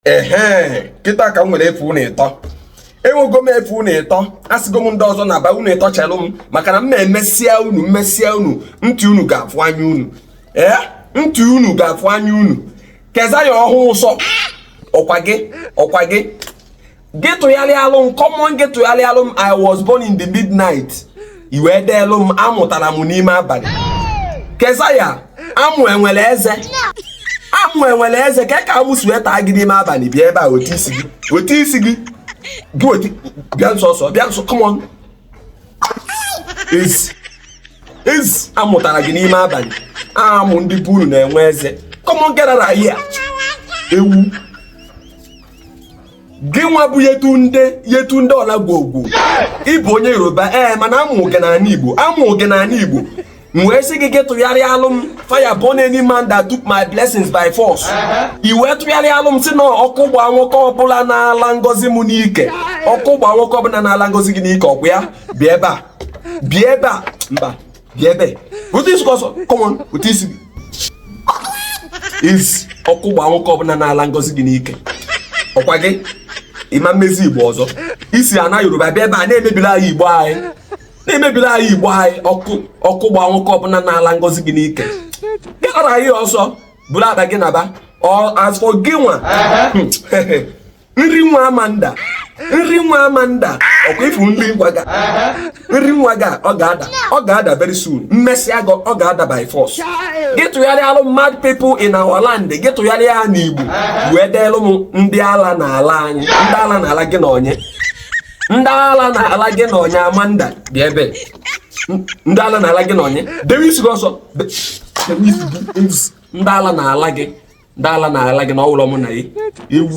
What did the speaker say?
ehe kịta ka m nwere efe unu ịtọ enwego m efe unu ịtọ asịgo m ndị ọzọ naba unu ịtọ chelụ m maka na m na-emesịa unu m mesịa unu ntị unu ga-afụ anya unu ee ntị unu ga-afụ anya unu keza ya ọhụụ ụsọ ọkwa gị ọkwa gị gị tụgharịalụ m come on gị tụgharịalụ m i was born in the midnight i wee deelụ m amụ tara m n'ime abalị kesa ya amụ enwere eze amụ enwere eze kee ka amụ si wee taa gị n'ime abalị bịa ebe a wete isi gị wete isi gị gị otu bịa nso ọsọ bịa nso come on ezi ezi amụ tara gị n'ime abalị amụ ndị be unu na-enwe eze come on get out of here ewu gị nwa bụ yetunde yetunde ọlagwogwo ị bụ onye yoruba ee mana a mụ gị n'ala igbo a mụ gị n'ala igbo m wee sị gị gị tụgharịalụ m fire burn any man that took my blessings by force i wee tụgharịalụ m sị na ọkụ gbaa nwoke ọbụla na-ala ngozi m n'ike ọkụ gbaa nwoke ọbụla na-ala ngozi gị n'ike ọkwa ya bịa ebe a bịa ebe a mba bịa ebe a wete isi ọsọ come on wete isi gị ị sị ọkụ gbaa nwoke ọbụla na-ala ngozi gị n'ike ọkwa gị ị ma-emezi igbo ọzọ i si ana yoruba bịa ebe a na-emebila anyị igbo anyị na-emebila anyị igbo anyị ọkụ ọkụ gbaa nwoke ọbụla na-ala ngozi gị n'ike gara anyị ọsọ buru bag gị naba ọ as for gị nwa nri nwa amanda nri nwa amanda ọkwa ị fụ nri nwa gị a nri nwa gị a ọ ga-ada ọ ga-ada very soon m mesịa gị ọ ga-ada by force gị tụgharịalụ m mad people in our land gị tụgharịa ya n'igbo wee deelụ m ndị ala na-ala anyị ndị ala na-ala gị na onye ndị ala na-ala gị na onye amanda bịa ebe ndị ala na-ala gị na onye dewe isi gị ọsọ dewe isi gị ndị ala na-ala gị ndị ala na-ala gị na ọ wụlọ mụ na gị ewu